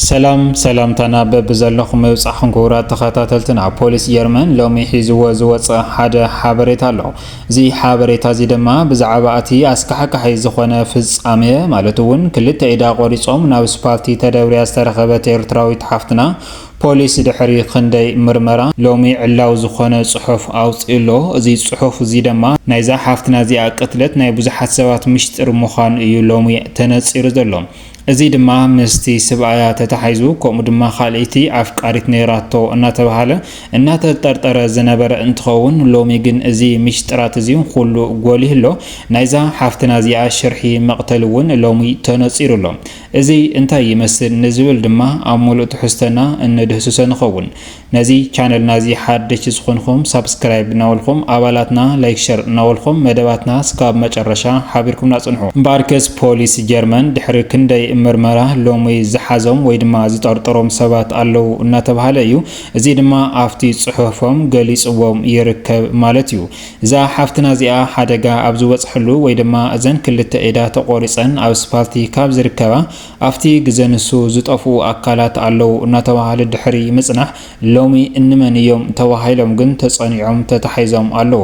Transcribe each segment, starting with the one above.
ሰላም ሰላምታና በብዘለኹም ምብጻሕኩም ክቡራት ተኸታተልትና ፖሊስ ጀርመን ሎሚ ሒዝዎ ዝወጸ ሓደ ሓበሬታ ኣሎ እዚ ሓበሬታ እዚ ድማ ብዛዕባ እቲ ኣስካሕካሒ ዝኾነ ፍጻሜ ማለት እውን ክልተ ኢዳ ቆሪጾም ናብ ስፓልቲ ተደብርያ ዝተረኸበት ኤርትራዊት ሓፍትና ፖሊስ ድሕሪ ክንደይ ምርመራ ሎሚ ዕላው ዝኾነ ጽሑፍ ኣውጺኡ ኣሎ። እዚ ጽሑፍ እዚ ድማ ናይዛ ሓፍትና እዚኣ ቅትለት ናይ ብዙሓት ሰባት ምሽጥር ምዃኑ እዩ ሎሚ ተነጺሩ ዘሎ። እዚ ድማ ምስቲ ስብኣያ ተታሒዙ ከምኡ ድማ ካልእይቲ ኣፍቃሪት ነይራቶ እናተብሃለ እናተጠርጠረ ዝነበረ እንትኸውን ሎሚ ግን እዚ ሚሽጥራት እዚ ኹሉ ጎሊሁ ኣሎ። ናይዛ ሓፍትና እዚኣ ሽርሒ መቕተሊ እውን ሎሚ ተነፂሩ ኣሎ። እዚ እንታይ ይመስል ንዝብል ድማ ኣብ ሙሉእ ትሕዝቶና እነድህስሶ ንኸውን። ነዚ ቻነልና እዚ ሓደሽቲ ዝኾንኹም ሳብስክራይብ እናበልኹም ኣባላትና ላይክ ሸር እናበልኹም መደባትና ስካብ መጨረሻ ሓቢርኩምና ጽንሑ። እምበኣርከስ ፖሊስ ጀርመን ድሕሪ ክንደይ ምርመራ ሎሚ ዝሓዞም ወይ ድማ ዝጠርጠሮም ሰባት ኣለዉ እናተብሃለ እዩ። እዚ ድማ ኣብቲ ጽሑፎም ገሊጽዎም ይርከብ ማለት እዩ። እዛ ሓፍትና እዚኣ ሓደጋ ኣብ ዝበጽሐሉ ወይ ድማ እዘን ክልተ ኢዳ ተቖሪጸን ኣብ ስፓልቲ ካብ ዝርከባ ኣብቲ ግዘ ንሱ ዝጠፍኡ ኣካላት ኣለው እናተብሃለ ድሕሪ ምፅናሕ ሎሚ እንመን እዮም ተባሂሎም ግን ተፀኒዖም ተታሒዞም ኣለው።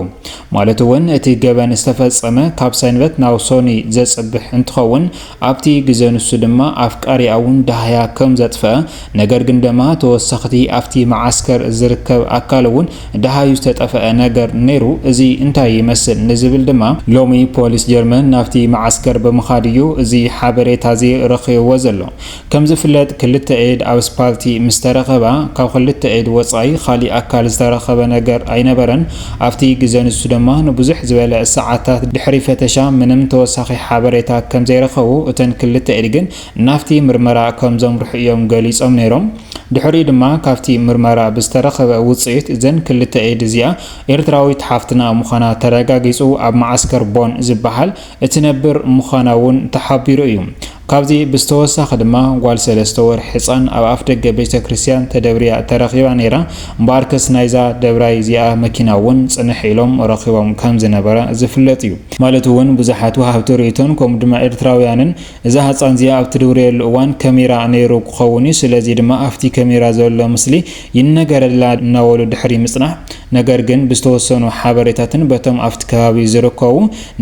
ማለት እውን እቲ ገበን ዝተፈፀመ ካብ ሰንበት ናብ ሶኑይ ዘፅብሕ እንትኸውን ኣብቲ ግዘ ንሱ ድማ ኣፍቃሪኣ እውን ዳህያ ከምዘጥፈኣ ነገር ግን ደማ ተወሰኽቲ ኣብቲ መዓስከር ዝርከብ ኣካል እውን ደሃዩ ዝተጠፈኣ ነገር ነይሩ፣ እዚ እንታይ ይመስል ንዝብል ድማ ሎሚ ፖሊስ ጀርመን ናብቲ መዓስከር ብምኻድ እዩ እዚ ሓበሬታዚ ረኺቡዎ ዘሎ። ከምዝፍለጥ ክልተ ኢድ ኣብ ስፓልቲ ምስ ተረኸባ ካብ ክልተ ኢድ ወጻኢ ካሊእ ኣካል ዝተረኸበ ነገር ኣይነበረን፣ ኣብቲ ግዘ ንሱ ደማ ንብዙሕ ዝበለ ሰዓታት ድሕሪ ፈተሻ ምንም ተወሳኺ ሓበሬታ ከምዘይረኸቡ እተን ክልተ ኢድ ግን ናብቲ ምርመራ ከም ዘምርሑ እዮም ገሊጾም ነይሮም። ድሕሪኡ ድማ ካብቲ ምርመራ ብዝተረኸበ ውጽኢት እዘን ክልተ ኤድ እዚኣ ኤርትራዊት ሓፍትና ምዃና ተረጋጊጹ ኣብ መዓስከር ቦን ዝበሃል እትነብር ምዃና እውን ተሓቢሩ እዩ። ካብዚ ብዝተወሳኺ ድማ ጓል ሰለስተ ወርሒ ሕጻን ኣብ ኣፍደገ ቤተክርስትያን ተደብርያ ተረኺባ ነይራ። እምበኣርከስ ናይዛ ደብራይ እዚኣ መኪና እውን ጽንሕ ኢሎም ረኺቦም ከም ዝነበረ ዝፍለጥ እዩ። ማለት እውን ብዙሓት ወሃብቲ ርእይቶን ከምኡ ድማ ኤርትራውያንን እዛ ህጻን እዚኣ ኣብ ትድውርየሉ እዋን ከሚራ ነይሩ ክኸውን እዩ ስለዚ ድማ ኣፍቲ ከሚራ ዘሎ ምስሊ ይነገረላ እናበሉ ድሕሪ ምጽናሕ ነገር ግን ብዝተወሰኑ ሓበሬታትን በቶም ኣፍቲ ከባቢ ዝርከቡ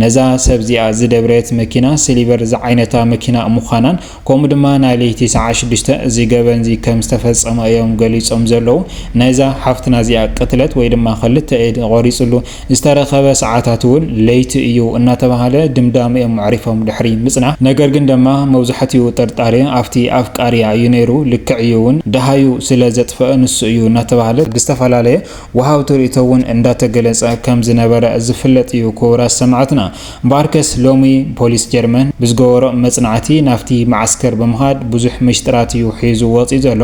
ነዛ ሰብ እዚኣ ዝደብረየት መኪና ስሊቨር ዝዓይነታ መኪና ምዃናን ከምኡ ድማ ናይ ለይቲ ሰዓት ሽዱሽተ እዚ ገበንዚ ከም ዝተፈጸመ እዮም ገሊጾም ዘለዉ ናይዛ ሓፍትና እዚኣ ቅትለት ወይ ድማ ክልተ ኢድ ቆሪጽሉ ዝተረኸበ ሰዓታት እውን ለይቲ እዩ እናተባህለ ድምዳመ እዮም ኣዕሪፎም ድሕሪ ምፅናሕ ነገር ግን ደማ መብዛሕቲኡ ጥርጣረ ኣብቲ ኣፍቃሪኣ እዩ ነይሩ ልክዕ እዩ እውን ደሃዩ ስለ ዘጥፈኣ ንሱ እዩ እናተባህለ ብዝተፈላለየ ወሃብቲ ርእይቶ እውን እንዳተገለፀ ከም ዝነበረ ዝፍለጥ እዩ ክቡራት ሰማዕትና እምበኣርከስ ሎሚ ፖሊስ ጀርመን ብዝገበሮ መፅናዕቲ ናብቲ መዓስከር ብምኻድ ብዙሕ ምሽጥራት እዩ ሒዙ ወፂኡ ዘሎ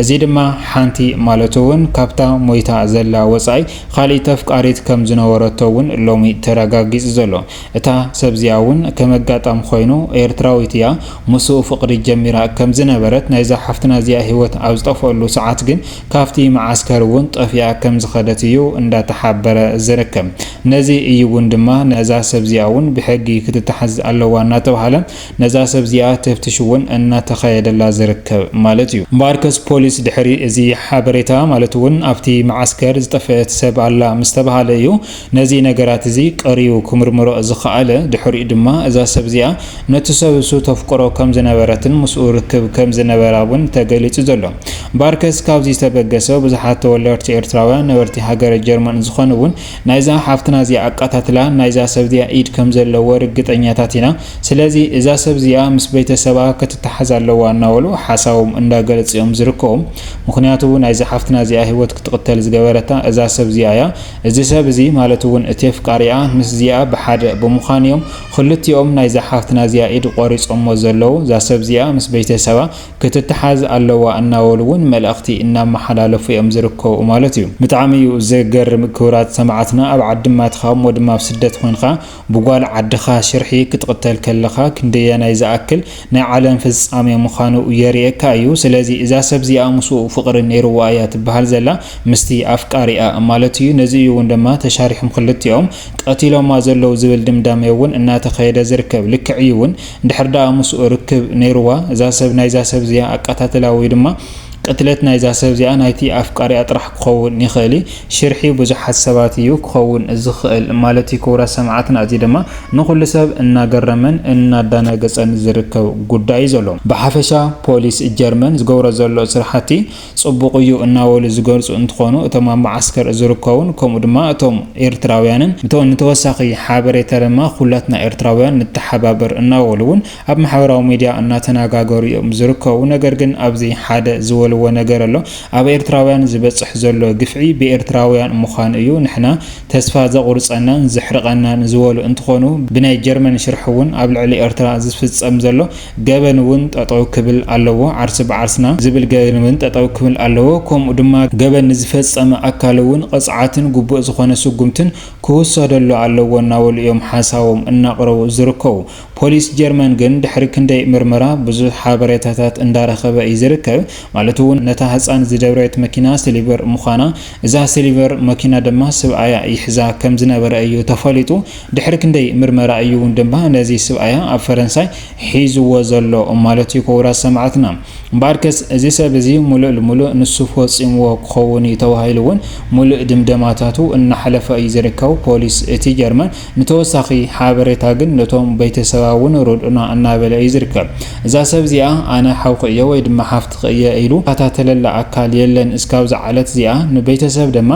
እዚ ድማ ሓንቲ ማለት እውን ካብታ ሞይታ ዘላ ወፃኢ ኻልኢት ኣፍቃሪት ከም ዝነበረቶ እውን ሎሚ ተረጋጊፁ ዘሎ። እታ ሰብ እዚኣ እውን ከም ኣጋጣሚ ኾይኑ ኤርትራዊት እያ። ምስኡ ፍቕሪ ጀሚራ ከም ዝነበረት ናይዛ ሓፍትና እዚኣ ህይወት ኣብ ዝጠፍኣሉ ሰዓት ግን ካብቲ መዓስከር እውን ጠፊኣ ከም ዝኸደት እዩ እንዳተሓበረ ዝርከብ። ነዚ እዩ እውን ድማ ነዛ ሰብ እዚኣ እውን ብሕጊ ክትተሓዝ ኣለዋ እናተብሃለ ነዛ ሰብ እዚኣ ተፍትሽ እውን እናተኻየደላ ዝርከብ ማለት እዩ። እምበኣርከስ ፖሊስ ድሕሪ እዚ ሓበሬታ ማለት እውን ኣብቲ መዓስከር ዝጠፈአት ሰብ ኣላ ምስ ተብሃለ እዩ ነዚ ነገራት እዚ ቀርዩ ክምርምሮ ዝኸኣለ። ድሕሪኡ ድማ እዛ ሰብ እዚኣ ነቲ ሰብሱ ተፍቅሮ ከም ዝነበረትን ምስኡ ርክብ ከም ዝነበራ እውን ተገሊጹ ዘሎ። እምበኣርከስ ካብዚ ዝተበገሰ ብዙሓት ተወለርቲ ኤርትራውያን ነበርቲ ሃገረ ጀርመን ዝኾኑ እውን ናይዛ ሓፍትና እዚኣ ኣቃታትላ ናይዛ ሰብ እዚኣ ኢድ ከም ዘለዎ ርግጠኛታት ኢና ስለዚ እዛ ሰብ እዚኣ ምስ በይተሰባ ክትታሓዝ ኣለዋ እናበሉ ሓሳቦም እንዳገለጹ እዮም ዝርከቡ ምኽንያቱ ናይዛ ሓፍትና እዚኣ ሂወት ክትቅተል ዝገበረታ እዛ ሰብ እዚኣ እያ እዚ ሰብ እዚ ማለት ውን እቲ ኣፍቃሪኣ ምስ እዚኣ ብሓደ ብምዃን እዮም ኽልቲኦም ናይዛ ሓፍትና እዚኣ ኢድ ቆሪጾሞ ዘለዉ እዛ ሰብ እዚኣ ምስ በይተሰባ ክትትሓዝ ኣለዋ እናበሉ እውን መልእኽቲ እናመሓላለፉ እዮም ዝርከቡ ማለት እዩ። ብጣዕሚ እዩ ዘገርም ክብራት ሰማዕትና ኣብ ዓድማትኻ እሞ ድማ ኣብ ስደት ኮንኻ ብጓል ዓድኻ ሽርሒ ክትቕተል ከለኻ ክንደየናይ ዝኣክል ናይ ዓለም ፍጻሜ ምዃኑ የርእየካ እዩ ስለዚ እዛ ሰብ እዚኣ ምስኡ ፍቕሪ ነይርዋ እያ ትበሃል ዘላ ምስቲ ኣፍቃሪኣ ማለት እዩ ነዚ እዩ እውን ድማ ተሻሪሖም ክልቲኦም ቀቲሎማ ዘለዉ ዝብል ድምዳሜ እውን እናተኸየደ ዝርከብ ልክዕ እዩ እውን እንድሕር ደኣ ምስኡ ርክብ ነይሩዋ እዛ ሰብ ናይዛ ሰብ እዚኣ ኣቃታትላ ወይ ድማ ቅትለት ናይዛ ሰብ እዚኣ ናይቲ ኣፍቃሪኣ ጥራሕ ክኸውን ይኽእል እዩ ሽርሒ ብዙሓት ሰባት እዩ ክኸውን ዝኽእል ማለት እዩ ክቡራት ሰማዕትና እዚ ድማ ንኹሉ ሰብ እናገረመን እናዳናገጸን ዝርከብ ጉዳይ እዩ ዘሎ ብሓፈሻ ፖሊስ ጀርመን ዝገብሮ ዘሎ ስራሕቲ ጽቡቕ እዩ እናበሉ ዝገልጹ እንትኾኑ እቶም ኣብ መዓስከር ዝርከቡን ከምኡ ድማ እቶም ኤርትራውያንን ንተወሳኺ ሓበሬታ ድማ ኩላትና ኤርትራውያን ንተሓባበር እናበሉ እውን ኣብ ማሕበራዊ ሚድያ እናተናጋገሩ እዮም ዝርከቡ ነገር ግን ኣብዚ ሓደ ዝበልዎ ነገር ኣሎ ኣብ ኤርትራውያን ዝበጽሕ ዘሎ ግፍዒ ብኤርትራውያን ምዃኑ እዩ ንሕና ተስፋ ዘቑርጸናን ዘሕርቐናን ዝበሉ እንትኾኑ ብናይ ጀርመን ሽርሒ እውን ኣብ ልዕሊ ኤርትራ ዝፍጸም ዘሎ ገበን እውን ጠጠው ክብል ኣለዎ፣ ዓርሲ ብዓርስና ዝብል ገበን እውን ጠጠው ክብል ኣለዎ፣ ከምኡ ድማ ገበን ንዝፈፀመ ኣካል እውን ቕፅዓትን ግቡእ ዝኾነ ስጉምትን ክውሰደሉ ኣለዎ እናበሉ እዮም ሓሳቦም እናቕረቡ ዝርከቡ። ፖሊስ ጀርመን ግን ድሕሪ ክንደይ ምርመራ ብዙሕ ሓበሬታታት እንዳረኸበ እዩ ዝርከብ፣ ማለት እውን ነታ ህፃን ዝደብረየት መኪና ስሊቨር ምዃና፣ እዛ ስሊቨር መኪና ድማ ስብኣያ ይሕዛ ከምዝነበረ እዩ ተፈሊጡ። ድሕሪ ክንደይ ምርመራ እዩ ውን ድማ ነዚ ስብኣያ ኣብ ፈረንሳይ ሒዝዎ ዘሎ ማለት እዩ ኩቡራት ሰማዕትና። እምበኣርከስ እዚ ሰብ እዚ ሙሉእ ልሙሉእ ንሱ ፎጺምዎ ክኸውን እዩ ተባሂሉ ውን ሙሉእ ድምደማታቱ እናሕለፈ እዩ ዝርከብ ፖሊስ እቲ ጀርመን ንተወሳኺ ሓበሬታ ግን ነቶም በይተሰባ ውን ርድኡና እናበለ እዩ ዝርከብ እዛ ሰብ እዚኣ ኣነ ሓውኺ እየ ወይ ድማ ሓፍትኺ እየ ኢሉ ዝካታተለላ ኣካል የለን እስካብዛ ዓለት እዚኣ ንበይተሰብ ደማ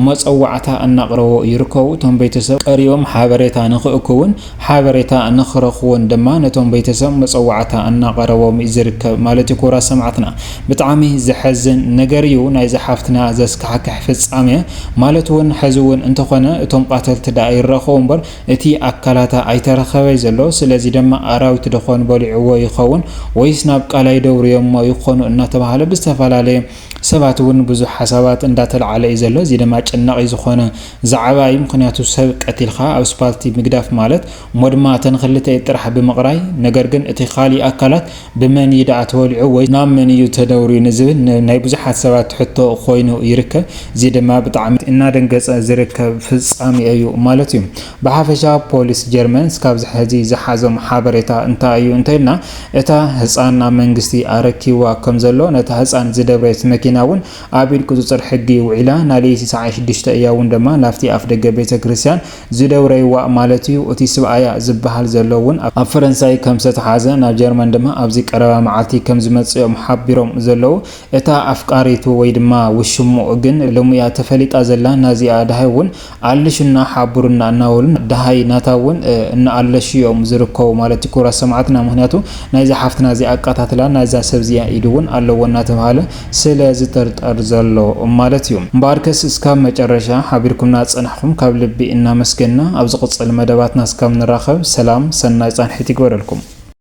መጸዋዕታ እናቕረቦ ይርከቡ። እቶም ቤተሰብ ቀሪቦም ሓበሬታ ንክእክቡን ሓበሬታ ንክረኽቡን ድማ ነቶም ቤተሰብ መጸዋዕታ እናቐረቦም ዝርከብ ማለት እዩ። ክቡራት ሰማዕትና ብጣዕሚ ዘሐዝን ነገር እዩ ናይዛ ሓፍትና ዘስካሕክሕ ፍጻመ ማለት እውን ሕዚ እውን እንተኾነ እቶም ቃተልቲ ደኣ ይራኸቡ እምበር እቲ ኣካላታ ኣይተረኸበይ ዘሎ ስለዚ ድማ ኣራዊት ደኾን በሊዕዎ ይኸውን ወይስ ናብ ቃላይ ደብርዮሞ ይኾኑ እናተባህለ ብዝተፈላለየ ሰባት ውን ብዙሕ ሓሳባት እንዳ ተልዓለ እዩ ዘሎ እዚ ደማ ኣጨናቂ ዝኮነ ዛዓባ እዩ ምክንያቱ ሰብ ቀቲልካ ኣብ ስፓልቲ ምግዳፍ ማለት ሞድማ እተን ክልተ ኢድ ጥራሕ ብምቅራይ ነገር ግን እቲ ካሊእ ኣካላት ብመን እዩ ዳኣ ተወሊዑ ወይስ ናብ መን እዩ ተደውርዩ ንዝብል ናይ ብዙሓት ሰባት ሕቶ ኮይኑ ይርከብ እዚ ደማ ብጣዕሚ እናደንገፀ ዝርከብ ፍፃሜ እዩ ማለት እዩ። ብሓፈሻ ፖሊስ ጀርመን እስካብ ዝሐዚ ዝሓዞም ሓበሬታ እንታይ እዩ እንተኢልና እታ ህፃን ናብ መንግስቲ ኣረኪብዋ ከምዘሎ ነታ ህፃን ዝደብረየት መኪና እውን ኣብ ኢድ ቁፅፅር ሕጊ ውዒላ ናሌይቲ ሰዓት ሽዱሽተ እያ እውን ደማ ናብቲ ኣፍደገ ቤተክርስትያን ዝደብረይዋ ማለት እዩ እቲ ስብኣያ ዝበሃል ዘሎ እውን ኣብ ፈረንሳይ ከምዝተትሓዘ ናብ ጀርመን ድማ ኣብዚ ቀረባ መዓልቲ ከምዝመፅእ እዮም ሓቢሮም ዘለው እታ ኣፍቃሪቱ ወይ ድማ ውሽምኡ ግን ሎሚ እያ ተፈሊጣ ዘላ ናዚኣ ደሃይ እውን ኣለሹና ሓቡሩና እናበሉን ደሃይ ናታ እውን እናኣለሹ እዮም ዝርከቡ ማለት እዩ ክቡራት ሰማዕትና ምክንያቱ ናይዛ ሓፍትና እዚኣ ኣቀታትላ ናይዛ ሰብ እዚኣ ኢድ እውን ኣለዎ እናተብሃለ ስለ ዝጥርጠር ዘሎ ማለት እዩ እምበኣርከስ እስካብ መጨረሻ ሓቢርኩምና ዝፀናሕኩም ካብ ልቢ እናመስገንና ኣብ ዝቅፅል መደባትና እስካብ ንራከብ ሰላም ሰናይ ፃንሒት ይግበረልኩም።